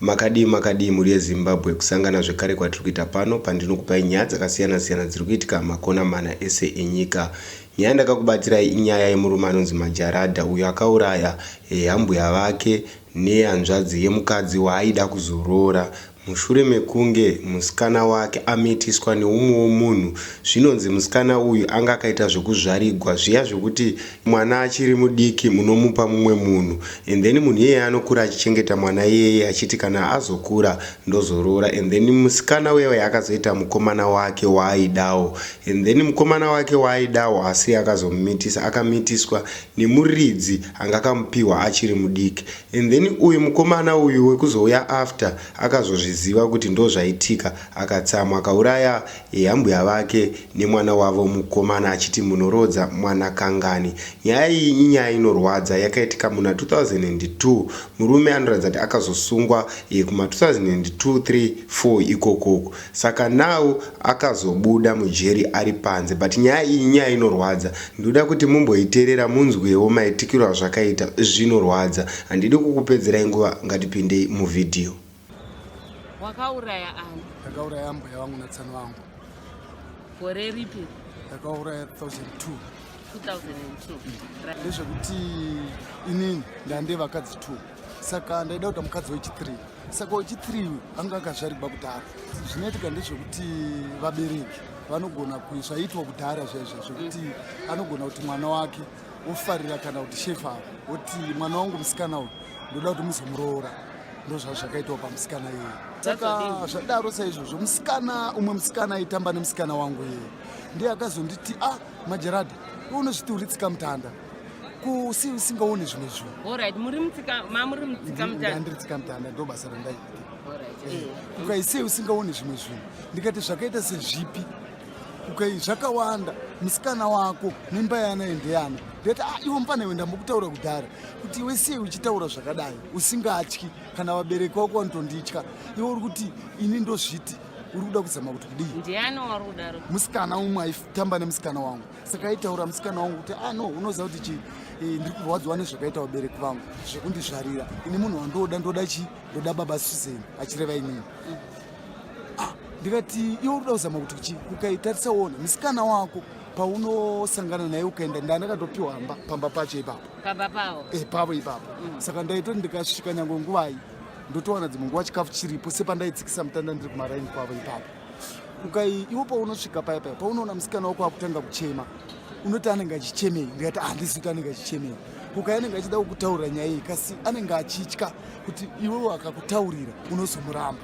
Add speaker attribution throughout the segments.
Speaker 1: Makadii makadii mhuri yeZimbabwe kusangana zvekare kwatiri kuita pano pandinokupai nyaya dzakasiyana siyana dziri kuitika makona mana ese enyika. Nyaya yandakakubatsirai inyaya yemurume anonzi Majarada uyo akauraya eh, ambuya vake nehanzvadzi yemukadzi waaida kuzoroora mushure mekunge musikana wake amitiswa neumwewo munhu zvinonzi musikana uyu anga akaita zvekuzvarigwa zviya zvekuti Mwana achiri mudiki munomupa mumwe munhu and then munhu iyeye anokura achichengeta mwana iyeye achiti kana azokura ndozoroora and then musikana uyeuye akazoita mukomana wake waaidawo and then mukomana wake waaidawo asi akazomumitisa akamitiswa nemuridzi anga akamupiwa achiri mudiki and then uyu mukomana uyu wekuzouya after akazozviziva kuti ndozvaitika akatsamwa akauraya Ehe ambuya vake nemwana wavo mukomana achiti munoroodza mwana kangani. Nyaya iyi inyaya inorwadza yakaitika muna 2002 murume anoratidza kuti akazosungwa ehe kuma 2002, 3, 4 ikoko uko saka now akazobuda mujeri ari panze but nyaya iyi inyaya inorwadza ndoda kuti mumboiterera munzwewo maitikiro azvakaita zvinorwadza handidi kukupedzerai nguva ngatipindei muvideo.
Speaker 2: wakauraya ani ndakauraya mbuya vangu
Speaker 3: natsani vangu gore
Speaker 2: ripi
Speaker 3: ndakauraya
Speaker 2: 2002 ndezvekuti
Speaker 3: inini ndande vakadzi two saka ndaida kuita mukadzi wechithree saka wechithree uyu anga akazvarigwa kudhara zvinoitika ndezvekuti vabereki vanogona zvaitwa kudhara zvaizvo zvekuti anogona kuti mwana wake wofarira kana kuti shefa avo woti mwana wangu musikana uyu ndoda kuti muzomuroora ndozvaa zvakaitawo pamusikana iye saka zvadaro saizvozvo musikana umwe musikana aitamba nemusikana wangu iye ndiye akazonditi a ah, majeradi unozviti uri tsika mutanda kusi usingaone zvimwe zvinhundandiri
Speaker 2: tsika mutanda
Speaker 3: ndo basa randaiita eh, ukaisei usingaone zvimwe zvinhu ndikati zvakaita sezvipi Okay, zvakawanda musikana wako mimba yana endeyana ndati ah, iwe mfana iwe ndambokutaura kudhara kuti iwe sei uchitaura zvakadai usingatyi kana vabereki vako vanotonditya iwe uri kuti ini ndozviti uri kuda kuzama kuti kudii ndiani wari kudaro
Speaker 2: musikana umwe aitamba
Speaker 3: nemusikana wangu saka aitaura musikana wangu kuti ah no unoziva kuti chii eh, ndiri kurwadziwa nezvakaita vabereki vangu zvekundizvarira ini munhu wandooda ndoda chii ndoda baba susan achireva inini mm. ah, ndikati iwe unoda kuzama kuti kuchi ukaitarisa wona musikana wako paunosangana naye ukaenda ndandakatopiwa hamba pamba pacho ipapo pamba pavo e,
Speaker 2: pavo ipapo mm.
Speaker 3: saka ndaitoti ndikasvika nyange nguvai ndotowana dzimwe nguva chikafu chiripo sepandaitsikisa mutanda ndiri kumaraini kwavo ipapo ukai iwo paunosvika paya paya paunoona musikana wako akutanga kuchema unoti anenge achichemei ndikati handisi ah, kuti anenge achichemei kuka anenge achida kukutaurira nyaya iyi kasi anenge achitya kuti iwewo akakutaurira unozomuramba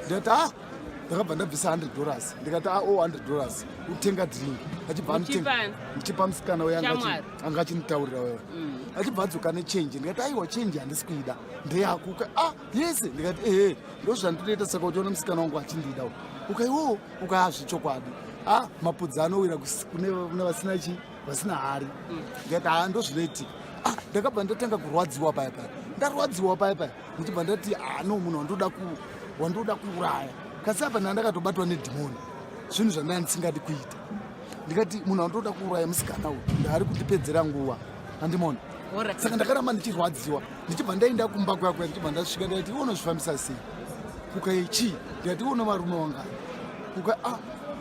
Speaker 3: ndikati a ah, ndakabva ndabvisa 100 dollars ndikati a ah, o oh, 100 dollars utenga drink achibva ndichipa musikana uye anga achinitaurira wewe mm. achibva adzoka nechange ndikati aiwa change handisi kuida ndeyakuka a ah, yese ndikati ehe ndozvandinoita saka uchiona musikana wangu achindida ukaiwowo ukayazvechokwadi a mapudzi anowira kune vasina chii vasina hari ndikati haa ndozvinoitika ah, ndakabva ndatanga kurwadziwa paya paya ndarwadziwa paya paya ndichibva ndati haa no munhu wandoda ku wandoda kuuraya kasi apa ndandakatobatwa nedhimoni zvinhu zvandanga ndisingadi kuita ndikati munhu wandoda kuuraya musikana uyu ndaari kundipedzera nguva andimona saka ndakaramba ndichirwadziwa ndichibva ndaenda kumba kwakwe ndichibva ndasvika ndikati unozvifambisa sei kukai chii ndikati uno varume wangani kuka ah,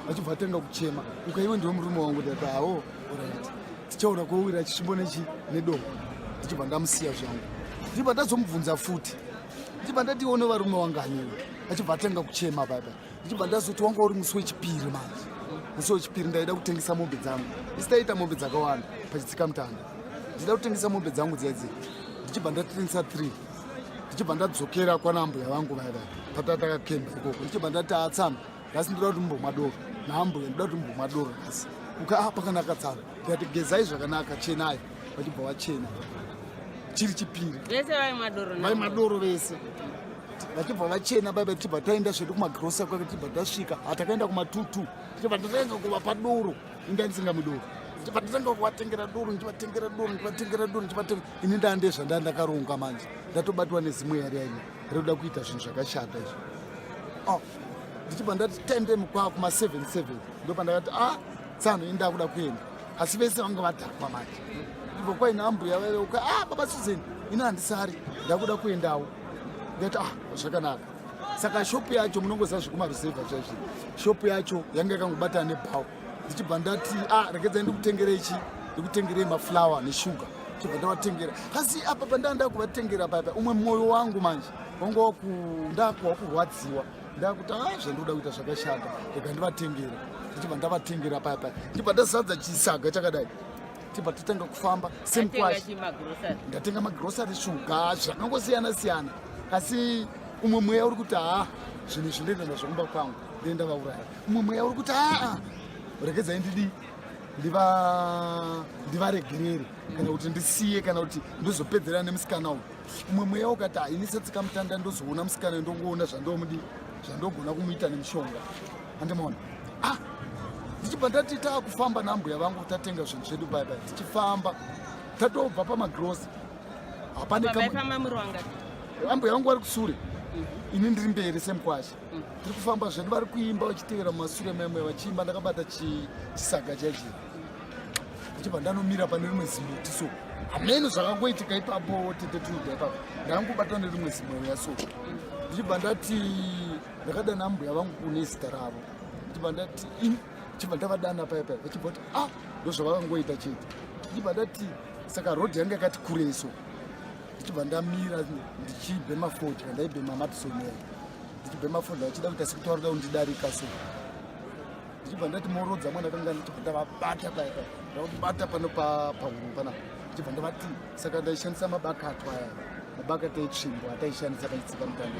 Speaker 3: vachibva vatanga kuchema ukaiwe ndiwe murume wangu ndati hawo orit tichaona kwowira chisvimbo nechi nedomo ndichibva ndamusiya zvangu ndichibva ndazomubvunza futi ndichibva ndatione varume wanganiwe achibva atanga kuchema baba ndichibva ndazoti wanga uri musi wechipiri manje musi wechipiri ndaida kutengesa mombe dzangu isitaita mombe dzakawanda pachitsika mutanda ndichida kutengesa mombe dzangu dzedzi ndichibva ndatengesa three ndichibva ndadzokera kwana mbuya vangu vaya vaya patataka kemba ikoko ndichibva ndati atsana nhasi ndoda kuti mumbomwa doro naambuya ndoda kuti mumbomwa doro nhasi uka ah, pakanaka tsara ndikati gezai zvakanaka chenai vachibva vachena chiri chipiri vese
Speaker 2: vaimwa
Speaker 3: doro vaimwa doro
Speaker 2: vese
Speaker 3: vachibva vachena baiba tichibva taenda zvedu kumagrosa kwake tichibva tasvika hatakaenda kumatutu tichibva tatanga kuvapa doro inga ndisinga mudoro tichibva tatanga kuvatengera doro ndichivatengera doro ndichivatengera doro ndichivatenge ini ndaa ndezvandaa ndakaronga manje ndatobatwa nezimwe yari yaine rekuda kuita zvinhu zvakashata izvo ndichibva ndati tende mukwa kuma 77 ndopandakati a ah, tsano ini ndakuda kuenda asi vese vanga vadhakwa manje ndibva kwaina ambuya vaveuka a ah, baba susan ini handisari ndakuda kuendawo ndati a ah, zvakanaka saka shopu yacho munongoziva zvekumaruzevha chaizvi shopu yacho yanga yakangobatana nebhawa ndichibva ndati a rekedza ndikutengerei chi ndikutengerei maflower neshuga chibva ndavatengera asi apa pandanda kuvatengera papa umwe mwoyo wangu manje Wango kunda kwakurwadziwa ndakuti haa zvandoda kuita zvakashata rega ndivatengera ndichibva ndavatengera paya paya ndichibva ndazadza chisaga chakadai tibva totanga kufamba same kwash ndatenga magrosary shuga zvakangosiyana siyana asi umwe mweya uri kuti haa zvinhu izvi ndoenda nazvo kumba kwangu ndee ndavauraya umwe mweya uri kuti aa regedzai ndidii ndivaregerere kana kuti ndisiye kana kuti ndozopedzerana nemusikana uyu umwe mweya ukati haini setsikamutanda ndozoona musikana ndongoona zvandomudi zvandogona kumuita nemushonga andimaona ah ndichibva ndati taakufamba nambuya vangu tatenga zvinhu zvedu baibai tichifamba tatobva pamagrosi hapaneambuya vangu vari kusure mhm. ini ndiri mberi semukwasha mhm. tiri kufamba zvedu vari kuimba vachitevera mumasure memwe vachiimba ndakabata chisaga chaizvii ndichibva ndanomira pane rimwe zimuti so hameno zvakangoitika ipapo tete tunoda ipapo ndangobatwa nerimwe zimweya so ndichibva ndati ndakadana mbuya vangu kune zita ravo ndichibva ndati ndichibva ndavadana paya paya vachibva kuti ah ndozvavakangoita chete ndichibva ndati saka rodhi yange yakati kurei so ndichibva ndamira ndichibhema fodya ndaibhema matisomera ndichibhema fodya achida kuita sekutaurida kundidarika so ndichibva ndati morodza mwana kanga ndichibva ndavabata paya paya ndavabata pano pahuru pana ndichibva ndavati saka ndaishandisa mabakato aya mabakato etsvimbo ataishandisa paitsika mutanda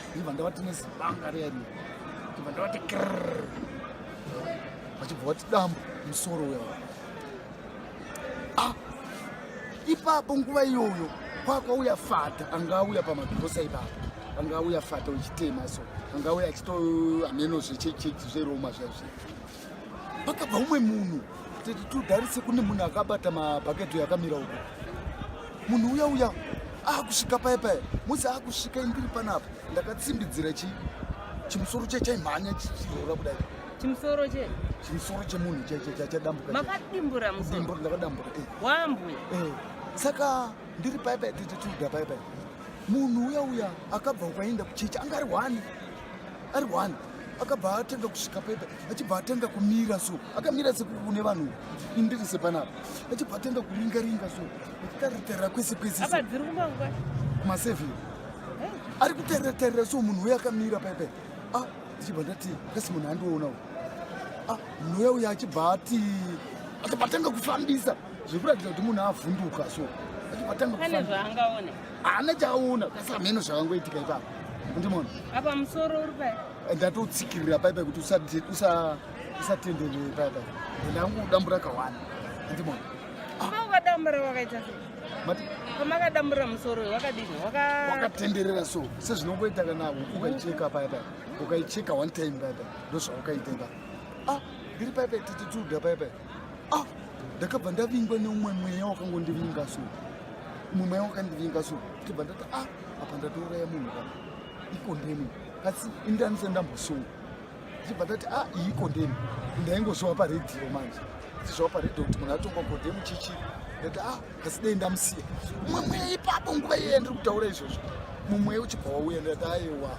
Speaker 3: ndichibva ndavati nezibanga riya riya ndichibva ndavati krr vachibva vati dambu musoro uya ah, ipapo nguva iyoyo kwakwauya fata anga auya pamagirosa ipapo anga auya fata uchitema so anga auya achito hameno zvechechechi zveroma zvaizvi pakabva umwe munhu tete tudarise kune munhu akabata mabhaketo yakamira uko munhu uya uya akusvika paye paye musi akusvika indiri panapa ndakatsimbidzira chi chimusoro chachaimhanya chichiroora kudai Chimusoro che.
Speaker 2: Chimusoro chemunhu
Speaker 3: cha cha cha dambuka. Makadimbura musoro.
Speaker 2: Dimbura ndakadambuka. Eh. Wambu.
Speaker 3: Eh.
Speaker 2: Saka
Speaker 3: ndiri pai pai tete tuda pai pai. Munhu uya uya akabva ukaenda kuchechi anga ari wani. Ari wani. Akabva atanga kusvika pai pai. Achibva atanga kumira so. Akamira se kune vanhu. Indiri se panapa. Achibva atanga kuringa ringa so. Akaritera kwese kwese. Apa dziri kumba
Speaker 2: ngwa. Kuma seven.
Speaker 3: Eh. Ari kuterera terera so munhu uya akamira pai pai. Ah. ndichibva ndati kasi munhu andiona u ah, mweya uya achibva ati achibva atanga kufambisa zvekuratidza kuti munhu avhunduka so achibva atanga
Speaker 2: kufambisa zvaangaona haana chaaona
Speaker 3: kasi hameno zvakangoitika ipapo ndimona apa musoro
Speaker 2: uri pai eh, ndatotsikirira pai
Speaker 3: pai kuti usatenderere pai pai ndangu dambura kawani ndimona ah. ukadambura
Speaker 2: wakaita sei pamakadambura musoro wakadini wakatenderera
Speaker 3: so sezvinongoita kana huku ukaicheka paya paya ukaicheka one time paya paya ndozvaukaita ipa ah ndiri paya paya titituda paya paya ah ndakabva ndavingwa neumwe mweya wakangondivinga so umwe mweya wakandivinga so ndikabva ndati ah apa ndatouraya munhu ka ikondemu asi indanise ndambosunga ndichibva ndati a ah, iyi kondemu ndaingozviwa paredhiyo manje ndichizviwa paredhiyo kuti munhu atongwa kondemu chichi ndati a ah, asi dei ndamusiya mumwe mweya ipapo nguva iyeye ndiri kutaura izvozvo mumweya uchibva wauya ndati ayewa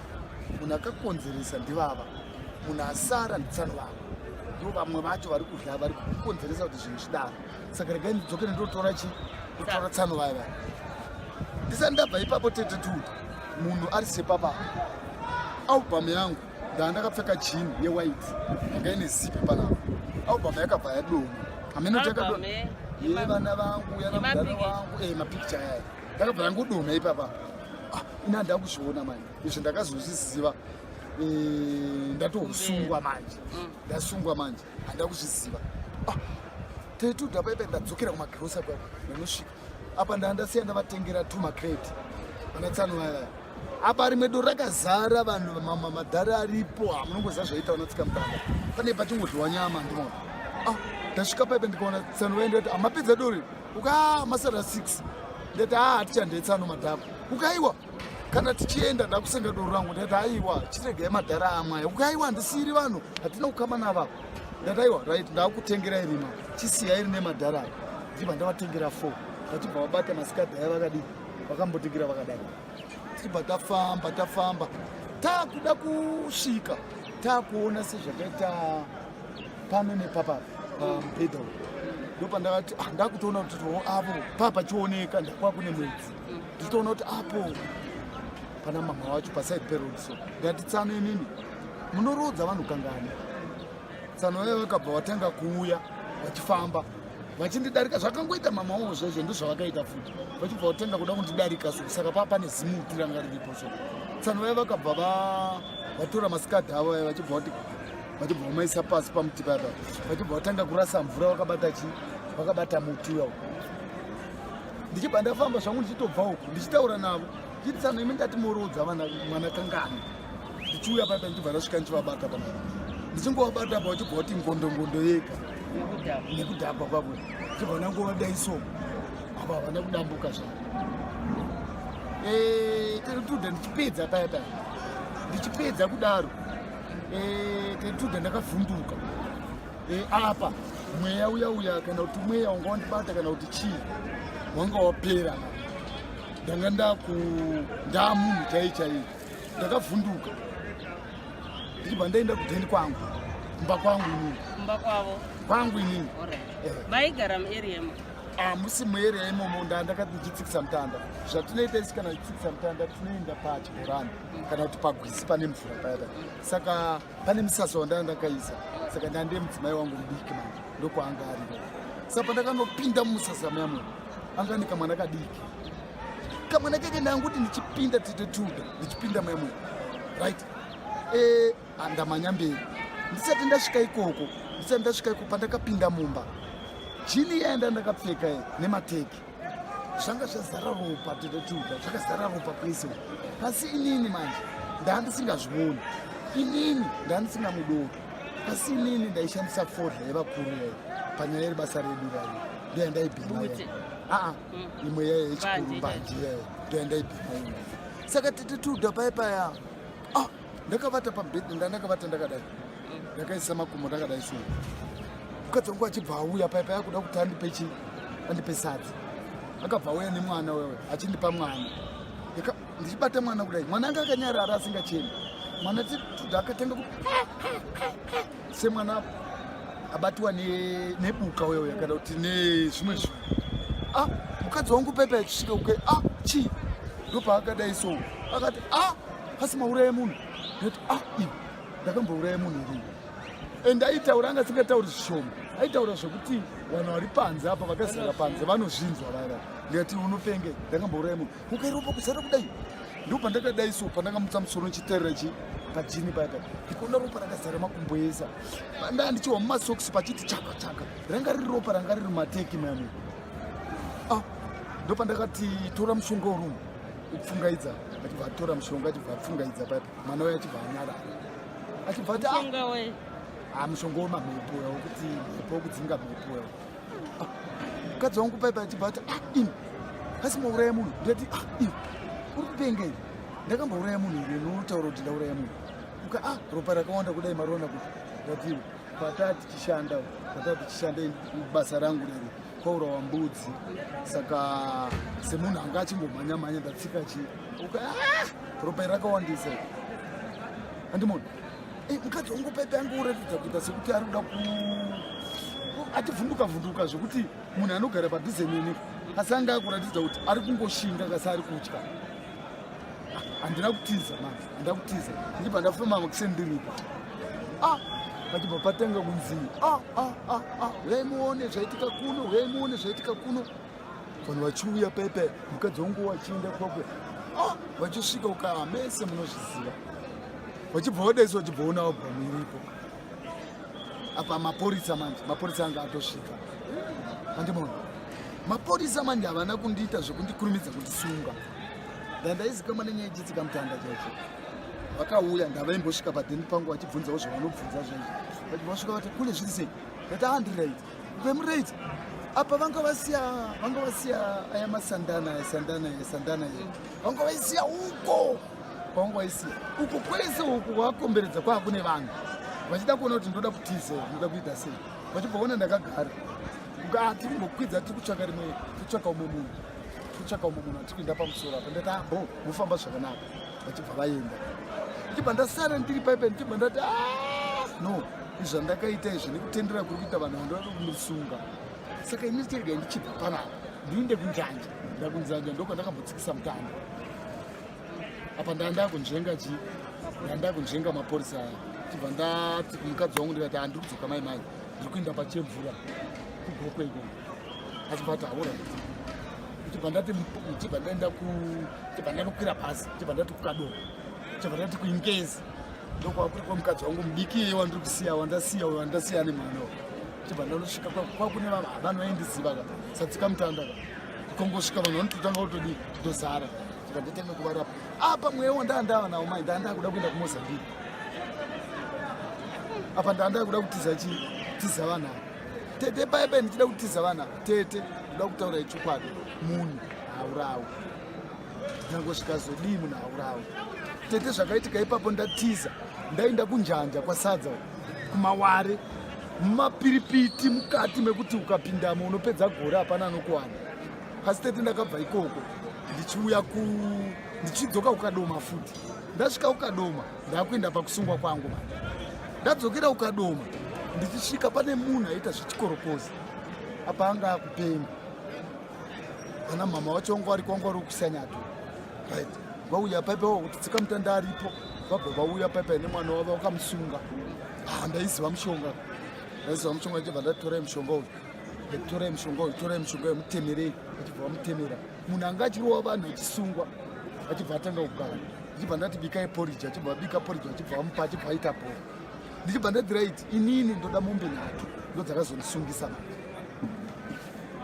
Speaker 3: munhu akakonzeresa ndivava munhu asara nditsano vavo ndo vamwe vacho vari kudya vari kukonzeresa kuti zvinhu zvidaro saka regai ndidzoke nendotora chi ndotora tsano vaya vaya ndisati ndabva ipapo tete tu munhu ari sepapa album yangu ndandakapfeka jean yewhite yanga ine zipi panapa album yakabva yadoma hameno chakadoma eh? ye vana vangu yana mudhara wangu e mapicture yayo ndakabva yangodoma ipapa ah, ina ndakuzviona manje izvi ndakazozviziva eh, ndatosungwa manje mm. ndasungwa manje handakuzviziva ah, tetuda paipe ndadzokera kumagirosa kwako ndanosvika apa ndandasiya ndavatengera two macrate vanatsano vaya apa rimwe doro rakazara vanhu madhari aripo hamunongoziva ah, zvaita vanatsika mutanga pane pachingodliwa nyama ndimona ah, ndasvika paipe ndikaona tsano vaya ndikati amapedza ah, dori ukaa masara six ndati haa hatichandetsano madhako ukaiwa kana tichienda ndakusenga doro rangu ndati aiwa chiregai madhara amwaya uku aiwa handisiiri vanhu hatina kukama navavo ndati aiwa right ndakutengera irima chisiya iri nemadhara avo ndichibva ndavatengera fo vachibva vabata masikadha aya vakadii vakambotingira vakadai tichibva tafamba tafamba taakuda kusvika taakuona sezvakaita pano nepapa pamubhedha um, u ndopandakati ah, ndakutoona kuti too avo paa pachioneka ndakwakune mwedzi Nditoona kuti apo pana mama wacho paside peroad so ndati tsano inini munoroodza vanhu kangani tsano vaye vakabva vatanga kuuya vachifamba vachindidarika zvakangoita mama wavo zvezvo ndozvavakaita futi vachibva vatanga kuda kundidarika so saka paa pane zimuti ranga riripo so tsano vaye vakabva vatora masikadhi avo vaye vachibva vati vachibva vamaisa pasi pamuti paya paya vachibva vatanga kurasa mvura vakabata chii vakabata muti uyao ndichibva ndafamba zvangu ndichitobva uku ndichitaura navo ndichiti tsano imi ndati moroodza vana mwana kangani ndichiuya paipa ndichibva ndasvika ndichivabata pa ndichingovabata pa uchibva kuti ngondongondo yega nekudhakwa kwavo ndichibva ndangovadai so apa havana kudambuka zvavo terituda eh, ndichipedza paya paya ndichipedza kudaro terituda eh, ndakavhunduka e, apa mweya uya uya kana kuti mweya wanga wandibata kana kuti chii wanga wapera ndanga ndaku ndaa munhu chaiye chaiye ndakavhunduka ndichibva ndaenda kudheni kwangu kumba kwangu inini kumba kwavo kwangu inini eh. maigara
Speaker 2: muarea imo hamusi ah,
Speaker 3: muarea imomo ndaa ndakati ndichitsikisa mutanda zvatinoita isi kana tichitsikisa mutanda tinoenda pachibhorani kana kuti pagwizi pane mvura payata saka Pane musasa wandanga ndakaisa saka ndandiye mudzimai wangu mudiki manje ndokwaanga ari saka pandakanopinda mumusasa muyamwe anga ane kamwana kadiki kamwana keke ndanga kuti ndichipinda tete tuda ndichipinda muyamwe right e andamanya mberi ndisati ndasvika ikoko ndisati ndasvika ikoko pandakapinda mumba jini yaenda ndakapfeka nemateki zvanga zvazara ropa tototuka zvakazara ropa pese asi inini manje ndaandisingazvioni inini ndaandisingamudoki asi inini ndaishandisa fodla yevakuru yayo panyaya iri basa redu rayo ndoya ndaibhima aa mm. imwe yayo yechikuru mbanje yayo ndoya ndaibhima saka tete tuda paye paya ah! ndakavata pabed ndandakavata ndakadai ndakaisa makumbo ndakadai so mukadzi wangu achibva auya paya paya kuda kuti andipe chi andipe sadzi akabva auya nemwana wewe achindipa mwana ndichibata mwana kudai mwana anga akanyarara asingacheni mwana tituda akatanga ku semwana abatiwa nebuka wewe kana kuti nezvimwe zvinhu ah mukadzi wangu pepa yachisvika kuke ah chii ndopaakadai so akati ah asi mauraya munhu ndati ah iwe ndakambouraya munhu irii and aitaura anga asingatauri zvishoma aitaura zvekuti vanhu vari panze apa vakazara panze vanozvinzwa vaya ndikati unopenge ndakambouraya munhu ukairopa kuzara kudai ndo pandakadai so pandakamutsa musoro ndichiterera chi pajini paya paya ndikuona ropa rakazara makumbo esa ndaa ndichihwa mumasokisi pachiti chaka chaka ranga riri ropa ranga riri mateki mani ah, ndo pandakati tora mushonga urumu kupfungaidza achibva atora mushonga achibva apfungaidza pati mwana waye achibva anyarara achibva ati ah, mushonga wemamhepo ya wekuti mhepo wekudzinga mhepo ya ah, mukadzi wangu paipa achibva ati ah, in asi mauraya munhu ndati in uri kupenga iri ndakambauraya munhu iri notaura kuti ndauraya munhu uka a ropa rakawanda kudai marona kuti ndatiwo pataa tichishanda pataa tichishanda basa rangu riri kwaurawa mbudzi saka semunhu anga achingomhanya mhanya ndatsika chi ah! ropa iri rakawandisa andimoni eh, mukadzi wangu paipe ange uratidza kuita sekuti ari kuda ku ativhunduka vhunduka zvekuti munhu anogara padhuze nini asi anga akuratidza kuti ari kungoshinga kasi ari kutya handina kutiza mani handina kutiza ndichibva ndafema makusendiripa ah pachibva patanga kunzi ah, ah, ah, ah. huyai muone zvaitika kuno huyai muone zvaitika kuno vanhu vachiuya pepe mukadzi wangu wachienda kwakwe ah, vachisvika ukaa mese munozviziva vachibva vadaisi vachibva ona wabva muiripo apa mapurisa manje mapurisa anga atosvika andimona mapurisa manje havana kundiita zvekundikurumidza kundisunga ndandaizikamwa nenyaya ichitsikamutanda chaicho vakauya ndavaimbosvika padheni pangu vachibvunzawo zvavanobvunza zvaizvo vati vasvika vati kule zviri sei ndati andireit vemureit apa vanga vasiya vanga vasiya aya masandana esandana esandana e vanga vaisiya uko kwanga waisiya uko kwese uku wakomberedza kwaa kune vanhu vachida kuona kuti ndoda kutiza ndoda kuita sei vachibvaona ndakagara ah, tiri ngokwidza tiri kutsvaka rimwe titsvaka umwe munhu titsvaka umwe munhu atiri kuenda pamusoro apa ndati abo ah, mofamba zvakanaka vachibva vaenda ndichibva ndasara ndiri paipe ndichibva ndati ah, no izvandakaita izvi nekutendera kuri kuita vanhu vandoda kumusunga saka ini chirega ndichibva panapa ndiinde kunjanja ndakunzanja ndoko ndakambotsikisa mutanda apa ndanda kunzvenga chi ndanda kunzvenga mapurisa aya tibva ndati kumukadzi wangu ndikati handiri kudzoka mai mai ndiri kuenda pachemvura kugokwe iko achibva ati haura tibva ndati tibva ndaenda ku tibva ndanokwira pasi tibva ndati kukado tibva ndati kuingezi ndokwava kuri kwamukadzi wangu mudiki iye wandiri kusiya wandasiya uyo wandasiya nemwana tibva ndanosvika kwakune vavanoendiziva ka satsikamutanda ka kongosvika vanhu vanototanga kutodi tozara tikatotanga kuvarapa apa mweya wo ndaandava nawo mai ndaandava kuda kuenda kumozambique apa ndaandava kuda kutiza chii tiza vanhu ava tete paye paye ndichida kutiza vanhu ava tete ndoda kutaura ichokwadi munhu haurawi nyango zvikazodii munhu haurawi tete zvakaitika ipapo ndatiza ndaenda kunjanja kwasadza kumaware mumapiripiti mukati mekuti ukapindamo unopedza gore hapana anokuwana pasi tete ndakabva ikoko ndichiuya ku ndichidzoka kukadoma futi ndasvika kukadoma ndakuenda pakusungwa kwangu ma ndadzokera kukadoma ndichisvika pane munhu aita zvichikorokoza apa anga akupenga ana mama wacho wanga wari kwanga wari kusanyato right vauya paipa wakuti tsikamutanda aripo vabva vauya paipai nemwana wavo vakamusunga ah, ndaiziva mushonga ndaiziva mushonga ndichibva ndatorai mushonga uyu torai mushonga uyu torai mushonga uyu mutemerei achibva vamutemera munhu anga achirowa vanhu achisungwa achibva atanga kugara ndichibva ndati bikai poriji achibva abika poriji achibva amupa achibva aita bhora ndichibva ndadira iti inini ndoda mombe nhatu ndodzakazondisungisa ma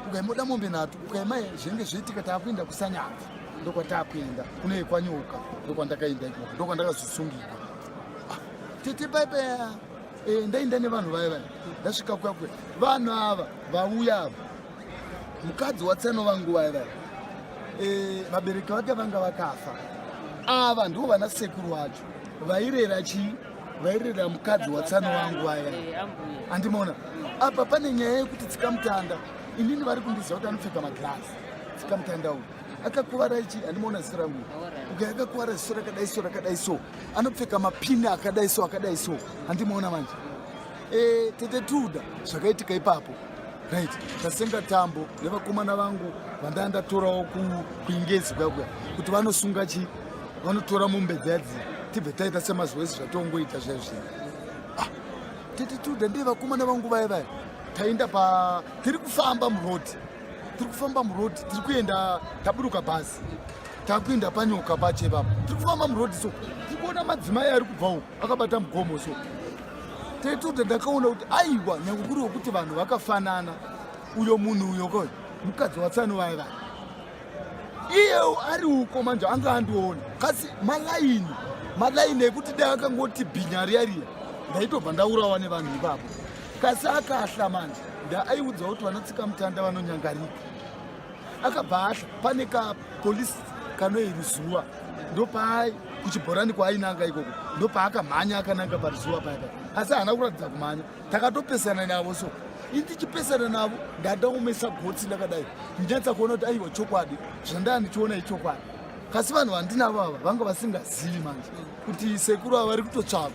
Speaker 3: ukaimoda mombe nhatu ukaima zvenge zvoitika taakuenda kusanyaka ndokwataakuenda kunei kwanyoka ndokwandakaenda ikoko ndokwandakazosungika ah, tete paipeya eh, ndaenda nevanhu vaya vaya ndasvika kwakwe vanhu ava vauya ava mukadzi watsano vangu vaya vaya eh, vabereki vake vanga vakafa ava ndivo vana sekuru vacho vairera chii vairera mukadzi watsano wangu vaya andimona apa pane nyaya yekuti tsikamutanda inini vari kundiziva kuti anopfeka magirasi tsikamutanda uyu akakuvara ichi andimona zita rangu uke akakuvara ziso rakadai so rakadai so anopfeka mapini akadai so akadai so andimona manje e, tete tuda zvakaitika ipapo right tasenga tambo nevakomana vangu vandandatorawo kuingezi kuya kuya kuti vanosunga chii vanotora mombe dzadzi tibve taita semazoesi zvatongoita zviya zviya ah, tete tuda ndiye vakomana vangu vaya vaya taenda pa tiri kufamba muroad tiri kufamba muroad tiri kuenda taburuka bhazi takuenda panyoka pache vapa tiri kufamba muroad so tiri kuona madzimai ari kubva uku akabata mugomo so tete tuda ndakaona kuti aiwa nyange kuri wekuti vanhu vakafanana uyo munhu uyo koyo mukadzi watsano vaya vaya iye ari uko manje anga andiona kasi malaini malaini ekuti dai akangoti bhinya riya riya ndaitobva ndaurawa nevanhu ipapo kasi akahla manje ndaaiudza kuti vanotsika mutanda vanonyangarika akabva ahla pane kapolisi kanoiruzuva ndopaai kuchibhorani kwaainanga ikoko ndopaakamhanya akananga paruzuva payaka asi haana kuratidza kumhanya takatopesana navo so indichipesana navo ndada kumesa gotsi ndakadai ndinyatsa kuona kuti aiwa chokwadi zvandaa ndichiona ichokwadi kasi vanhu vandinavo ava vanga vasingazivi manje kuti sekuru ava vari kutotsvagwa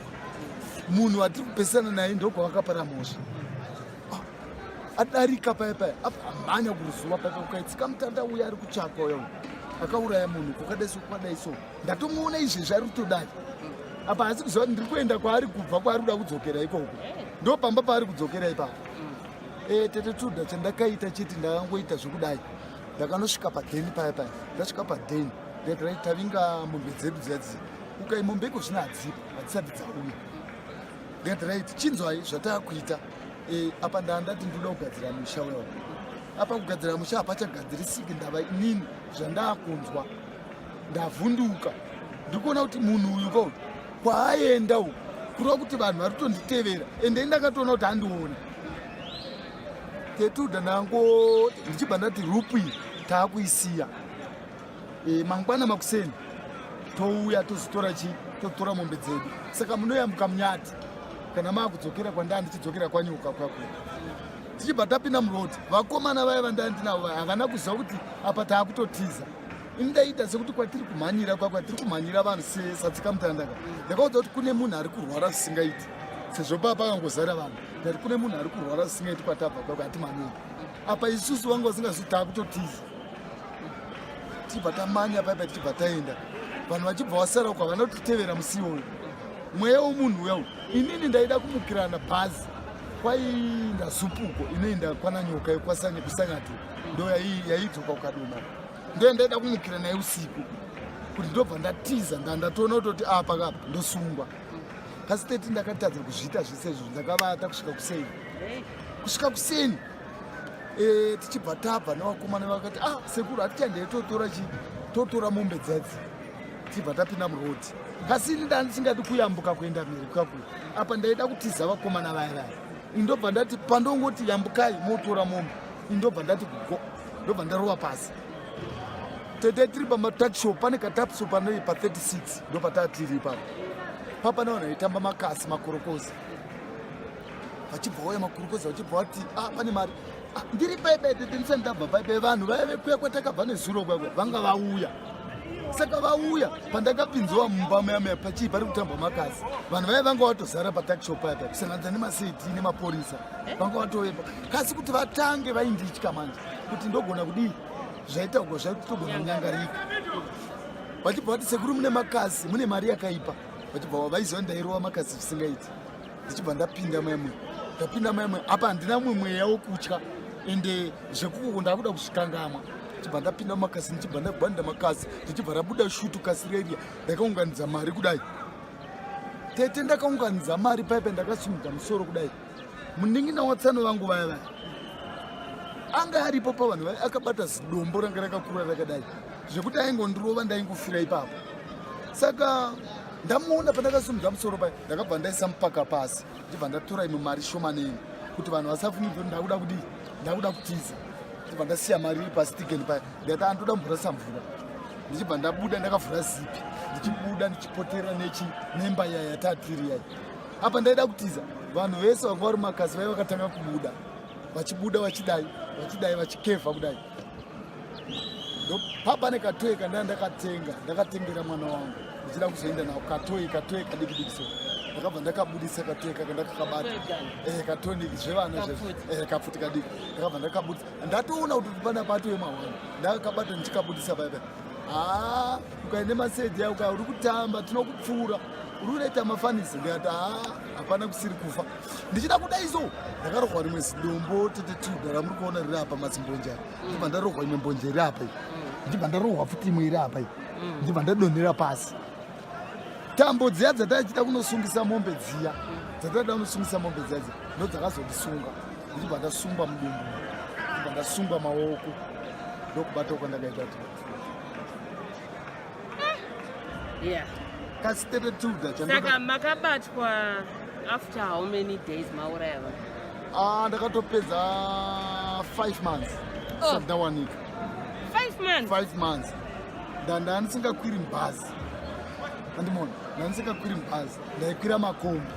Speaker 3: munhu vatiri kupesana naye ndokwavakapara mhosva ah, adarika paya paya amhanya kuruzuva paka ukaitsika mutanda uya ari kutsvakwa uya akauraya munhu kukadai so kukadai so ndatomuona izvezvi ari kutodai apa asi kuziva ndiri kuenda kwaari kubva kwaari kuda kudzokera ikoko ndo pamba paari kudzokera ipapo e, tete tuda chandakaita chiti ndakangoita zvekudai ndakanosvika padheni paya paya ndasvika padheni ndairai tavinga mombe dzedu dziyadziya ukai mombe iko zvino hadzipo hadzisati dzauya ndikatirait chinzwai zvataakuita eh, apa ndaa ndati ndoda kugadzira musha wewa apa kugadzira musha hapachagadzirisiki ndava inini zvandaakunzwa ndavhunduka ndiri kuona kuti munhu uyu ko kwaaenda uku kureva kuti vanhu vari kutonditevera ende ndakatoona kuti andiona tetuda nango ndichibva ndati rupu iyi taakuisiya e, mangwana makuseni touya tozotora chii totora mombe dzedu saka munoyambuka munyati kana maakudzokera kwandaa ndichidzokera kwanyuka kwakwe tichibva tapinda muroti vakomana vaya vandandinavo vaya havana kuziva kuti apa taakutotiza ini ndaiita sekuti kwatiri kumhanyira kwa kwatiri kumhanyira vanhu sesatsikamutandaka ndakaudza kuti kune munhu ari kurwara zvisingaiti sezvo paa pakangozara vanhu ndati kune munhu ari kurwara zvisingaiti kwatabva kwako hatimhanyira apa isusu vanga vasingazi taa kutotiza tichibva tamanya paipa tichibva taenda vanhu vachibva vasara uko havana kutitevera musi iwoyo mweya womunhu uya uyu inini ndaida kumukirana bhazi kwaiinda zupuko inoenda kwana nyoka yokwasanye kusanyati ndo yaidzoka ukadoma ndiye ndaida kumukira naye usiku kuti ndobva ndatiza ndandatoona kutoti apa ah, kapa ndosungwa pasi 30 ndakatadza kuzviita zvese izvo ndakavata kusvika kuseni kusvika kuseni eh, tichibva tabva nevakomana vakati ah sekuru hatichandei totora chii totora mombe dzadzi tibva tapinda murodi asi ini nda ndisingadi kuyambuka kuenda mhiri kwakuyo apa ndaida kutiza vakomana vaya vaya indobva ndati pandongoti yambukai motora mombe indobva ndati go ndobva ndarova pasi tete tiri pamataxshop pane katapso pane pa 36 ndopatatiri ipapo papa navanhu vaitamba makasi makorokozi vachibva waya makorokozi vachibva vati a ah, pane mari ah, ndiri paibe tete ndisani ndabva paibe vanhu vaive kuya kwatakabva nezuro kwakwe vanga vauya saka vauya pandakapinziwa mumba mayamaya pachii pari kutambwa makasi vanhu vaive vanga vatozara pataxshop paya paya kusanganidza nemaseti nemaporisa vanga vatovepa kasi kuti vatange vainditya manje kuti ndogona kudii zvaita uko zvaiti togona kunyangarika vachibva vati sekuru mune makasi mune mari yakaipa vachibva vaiziva ndairova makasi zvisingaiti ndichibva ndapinda maimwe ndapinda maimwe apa handina mumwe mweya wokutya ende zvekuko ndakuda kuzvikangamwa ndichibva ndapinda makasi ndichibva ndagwanda makasi ndichibva rabuda shutu kasi reria ndakaunganidza mari kudai tete ndakaunganidza mari paipe ndakasimudza musoro kudai munin'ina watsano vangu vaya vaya anga aripo pavanhu vaya akabata zidombo ranga rakakura rakadai zvekuti aingondirova ndaingofira ipapo saka ndamuona pandakasimudza musoro paya ndakabva ndaisa mupaka pasi ndibva ndatora imwe mari shomaneni kuti vanhu vasafumidzwe ndakuda kudii ndakuda kutiza ndibva ndasiya mari iri pasi tigeni paya ndikati andoda mvura samvura ndichibva ndabuda ndakavhura zipi ndichibuda ndichipotera nechi nemba yaya yatiri yai apa ndaida kutiza vanhu vese vanga vari makazi vaiva vakatanga kubuda vachibuda vachidai vachidai vachikevha kudai papa nekatoyi kandaa ndakatenga ndakatengera mwana wangu ndichida kuzoenda nao katoyi katoyi kadiki diki so ndakabva ndakabudisa katoyi kaka ndakakabata eh, katoniki zvevana eh, kapfuti kadiki ndakabva ndakabudisa ndatoona kuti pana patoye mahwana ndakakabata ndichikabudisa baibai haa ah, ukaende maseji yauka uri kutamba tinokupfuura unoita mafanisi ndikati haa hapana kusiri kufa ndichida kudai so ndakarohwa rimwe zidombo tete tuda ramuri kuona riri apa mazimbonje apa ndibva ndarohwa imwe mbonje iri apa iyi ndibva ndarohwa futi imwe iri apa iyi ndibva ndadonhera pasi tambo dziya dzataichida kunosungisa mombe dziya dzataida kunosungisa mombe dziya dziya ndo dzakazondisunga ndichibva ndasungwa mudumbu ndibva ndasungwa maoko ndokubata kwandakaita tii yeah kasi 32 gachasaka
Speaker 2: makabatwa after how many days mauraya vanhu ah ndakatopedza
Speaker 3: 5 months oh. sandawanika 5 months 5 months ndanda ndisingakwiri mubhazi andimona ndandisingakwiri mubhazi ndaikwira makombi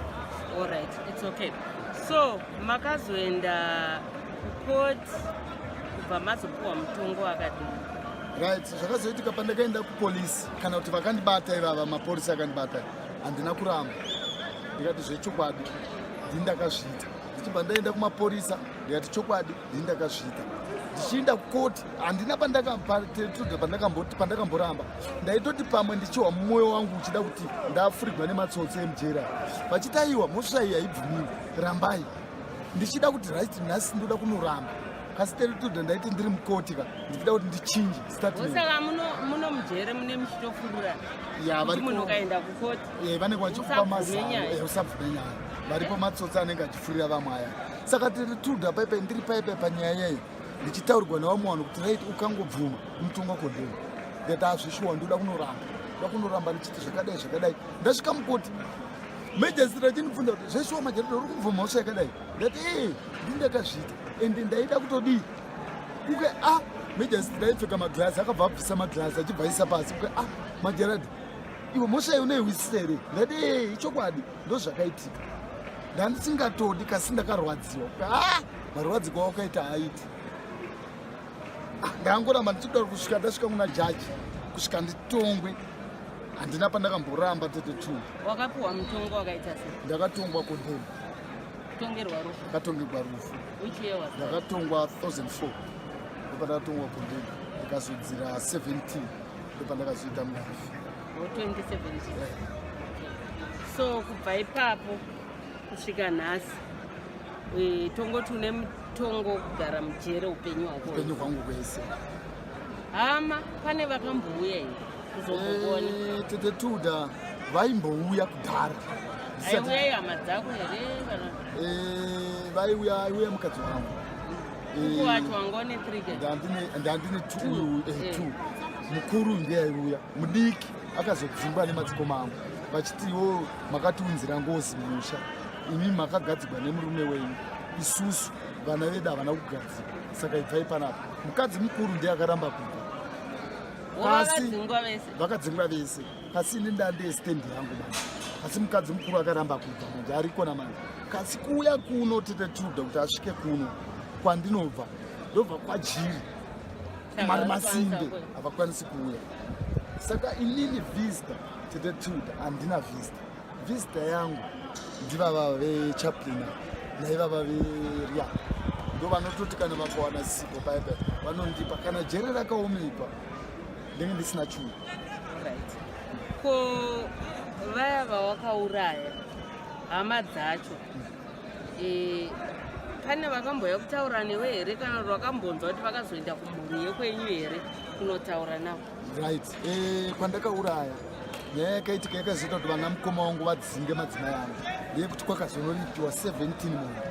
Speaker 3: all right
Speaker 2: it's okay so makazoenda kucourt kubva mazopiwa mutongo wakadii right
Speaker 3: zvakazoitika pandakaenda kupolisi kana kuti vakandibata ivava mapolisi akandibata handina kuramba ndikati zvechokwadi ndii ndakazviita ndichibva ndaenda kumaporisa ndikati chokwadi ndii ndakazviita ndichiinda kukoti handina pandakamboramba ndaitoti pamwe ndichiwa mumwoyo wangu uchida kuti ndafurigwa nematsotsi emujera vachitaiwa mhosva iyi haibvumiwi rambai ndichida kuti right nhasi ndoda kunoramba kasi terituda ndaiti ndiri mukoti ka ndichida kuti ndichinje saka muno
Speaker 2: mujere mune muchitofurura munhu ukaenda kukoti eh, vanenge vachifupa
Speaker 3: mazano usabvume eh, nyaya varipo matsotsi anenge achifurira vamwe aya saka terituda paipai ndiri paipai panyaya yayo ndichitaurwa navamwe vanhu kuti right ukangobvuma mutonga kondeni that azvishuwa ndoda kunoramba ndoda kunoramba ndichiti zvakadai zvakadai ndasvika mukoti Major achinibvunza kuti zveshuwa majereda uri kubvuma mhosva yakadai ndati ee ndindakazviita and ndaida kutodii uke a ah, majasitira aipfeka maglazi akabva abvisa maglazi achibva aisa pasi uke a ah, majereda iwe mhosva iyo unoihwisisa here ndati ee ichokwadi ndo zvakaitika ndandisingatodi kasi ndakarwadziwa uke a ah, marwadziko aukaita aiti ndangoramba ndichikuda kusvika ndasvika kuna jaji kusvika nditongwe handina pandakamboramba tete two wakapiwa
Speaker 2: mutongo wakaita se ndakatongwa kondemu ndakatongerwa rufu ndakatongwa
Speaker 3: 2004 ndopandakatongwa kondemu ndikazodzira 17 ndopandakazoita murafi 2017
Speaker 2: so kubva ipapo kusvika nhasi Eh, tongoti une mutongo kugara mujere upenyu hwako upenyu hwangu kwese
Speaker 3: hama
Speaker 2: pane vakambouya here kuzombokuona eh, tete tuda
Speaker 3: vaimbouya kudhara aiuya
Speaker 2: hama dzako here eh, vaiuya
Speaker 3: aiuya mukadzi wangu wacho
Speaker 2: wanga une ndandine
Speaker 3: t mukuru ndiye aiuya mudiki akazodzimba nemadzikoma angu vachitiwo makatiunzira ngozi mumusha imi makagadzigwa nemurume wenyu isusu vana vedu havana kugadzigwa saka ibvai panapa mukadzi mukuru ndiye akaramba kubva asi vakadzingwa vese asi ini ndandee stendi yangu manje asi mukadzi mukuru akaramba kubva manje arikona manje kasi kuuya kuno tete tiuda kuti asvike kuno kwandinobva ndobva kwajiri mari masimbe havakwanisi kuuya saka inini vista tete tiuda handina vista Vista yangu ndivava vechaplina naivava veria ndo vanototi kana vakawana sipo paipa vanondipa kana jere rakaomeipa ndenge ndisina chuu
Speaker 2: ko vaya vawakauraya hama dzacho e, pane vakambouya kutaura newe here kana kuti vakambonzwa kuti vakazoenda kumhuri yekwenyu here kunotaura navo right eh,
Speaker 3: pandakauraya nyaya yakaitika yakazoita kuti vana mukoma wangu vadzinge madzimai angu ndeyekuti kwakazonoripiwa 17 mombe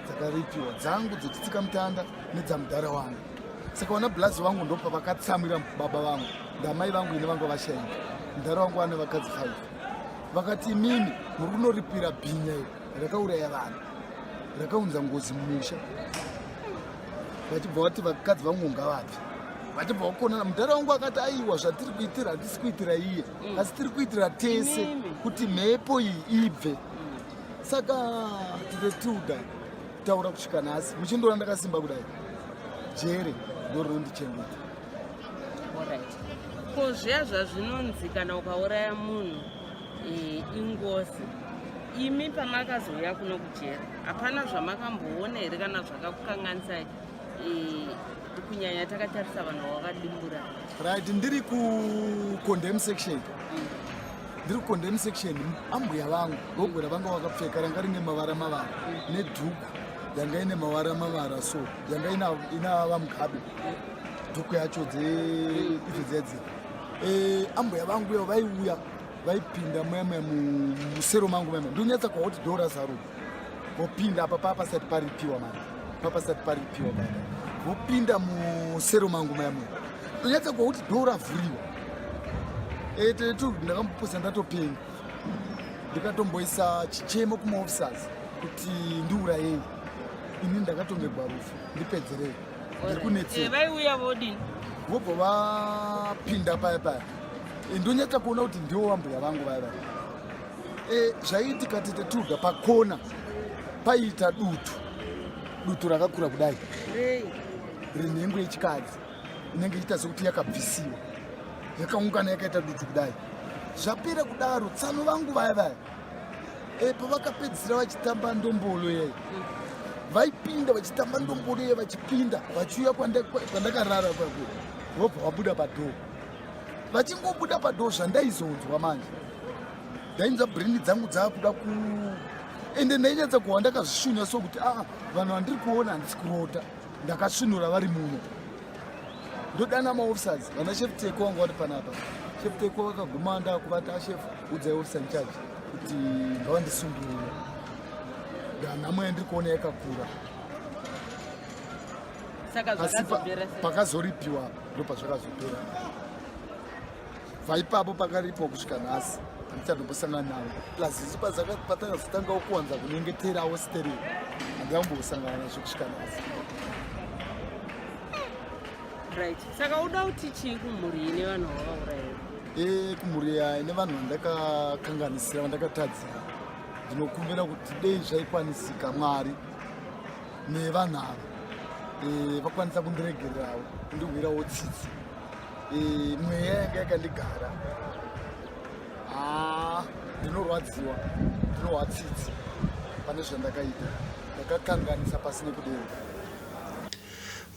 Speaker 3: dzakaripiwa dzangu dzechitsika mutanda nedzamudhara wangu saka vana blazi vangu ndopa vakatsamwira baba vangu ndamai vangu ine vanga vashaika mudhara wangu vane vakadzi 5 vakati imimi muri kunoripira bhinya iyo rakauraya vanhu rakaunza ngozi mumusha vachibva vati vakadzi vangonga vabvi vachibva vakonana mudhara wangu akati aiwa zvatiri kuitira hatisi kuitira iye mm. asi tiri kuitira tese kuti mhepo iyi ibve saka tite tiuda taura kusvika nhasi muchindoona ndakasimba kudai jere ndorinondichengeta ko zviya
Speaker 2: zvazvinonzi kana ukauraya munhu e, ingozi imi pamakazouya kuno kujera hapana zvamakamboona here kana zvakakukanganisai e, kunyanya takatarisa vanhu vavakadimbura right ndiri
Speaker 3: kucondem section mm. ndiri kucondem section ambuya vangu gogora vanga vakapfeka ranga rine mavara mavara mm. nedhuku yanga ine mavara mavara so yanga ina vamugabe dhuku yacho dzeidzo dzedzira Eh, ambuya vangu iyo vaiuya vaipinda muyamwe musero mangu muyamwe ndonyatsa kwauti dora zaro vopinda apa paa pasati paripiwa mari paa pasati paripiwa mari vopinda musero mangu muyamwe ndonyatsa kwauti dora vhuriwa etetu eh, ndakamboposa ndatopenga ndikatomboisa chichemo kumaofisers kuti ndiurayei ini ndakatongerwa rufu ndipedzerei vaiuya vodii
Speaker 2: vobva
Speaker 3: vapinda paya paya eh, ndonyatsa kuona kuti ndiwo vambuya vangu vaya vaya eh, zvaiitika tete tuga pakona paiita dutu dutu rakakura kudai renhengo yechikadzi inenge iita sekuti yakabvisiwa yakaungana yakaita dutu kudai zvapera kudaro tsano vangu vaya vaya eh, pavakapedzisira vachitamba ndombolo yai vaipinda vachitamba ndombolo yai vachipinda vachiuya kwandakarara kwako vobva vabuda padhoo vachingobuda padhoo zvandaizonzwa manje ndainzwa brindi dzangu dzaakuda ku ende ndainyatsa kuhwa ndakazvishunya so kuti aa ah, vanhu vandiri kuona handisi kurota ndakasvinura vari muno ndodana maofficers vana chef teko vanga vari panapa chef teko vakaguma ndakuvati ashef udzai officer incharge kuti ngavandisungirire ndanhamo yandiri kuona yakakura asi pakazoripiwa ndopazvakazopera kubva ipapo pakaripo kusvika nhasi handichatombosangana navo plus isu patakazotangao kuwanza kunyengeterawo stereo handikambosangana nazvo kusvika nhasi right
Speaker 2: saka uda kuti chii kumhuri ine vanhu vavauraya e kumhuri ine
Speaker 3: vanhu vandakakanganisira vandakatadzira ndinokumbira kuti dei zvaikwanisika mwari nevanhu ava e, vakwanisa kundiregererawo kundihwirawo tsitsi mweya yanga yakandigara ah, ndinorwadziwa ndinohwa tsitsi pane zvandakaita ndakakanganisa pasi nekudero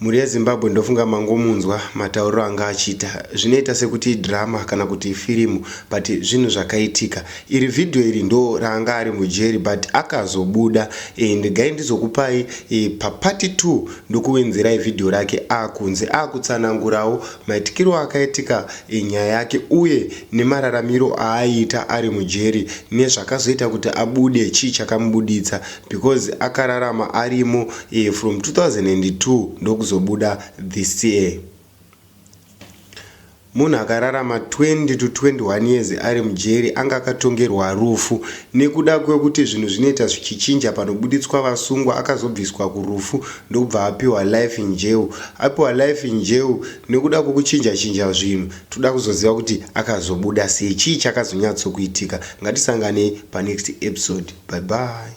Speaker 1: mhuri yezimbabwe ndofunga mangomunzwa matauriro anga achiita zvinoita sekuti drama kana kuti firimu but zvinhu zvakaitika iri vhidhiyo iri ndo raanga ari mujeri but akazobuda and gai ndizokupai e, papati 2 ndokuwenzerai vhidhiyo rake akunze akutsanangurawo maitikiro akaitika enyaya yake uye nemararamiro aaiita ari mujeri nezvakazoita kuti abude chii chakamubuditsa because akararama arimo eh, from 2002 ndokuzobuda this year. Munhu akararama 20 to 21 years ari mujeri anga akatongerwa rufu. Nekuda kwekuti zvinhu zvinoita zvichichinja panobuditswa vasungwa akazobviswa kurufu ndokubva apiwa life in jail. Apiwa life in jail nekuda kwekuchinja chinja zvinhu toda kuzoziva kuti akazobuda sei chii chakazonyatsokuitika. Ngatisanganei panext episode. Bye bye.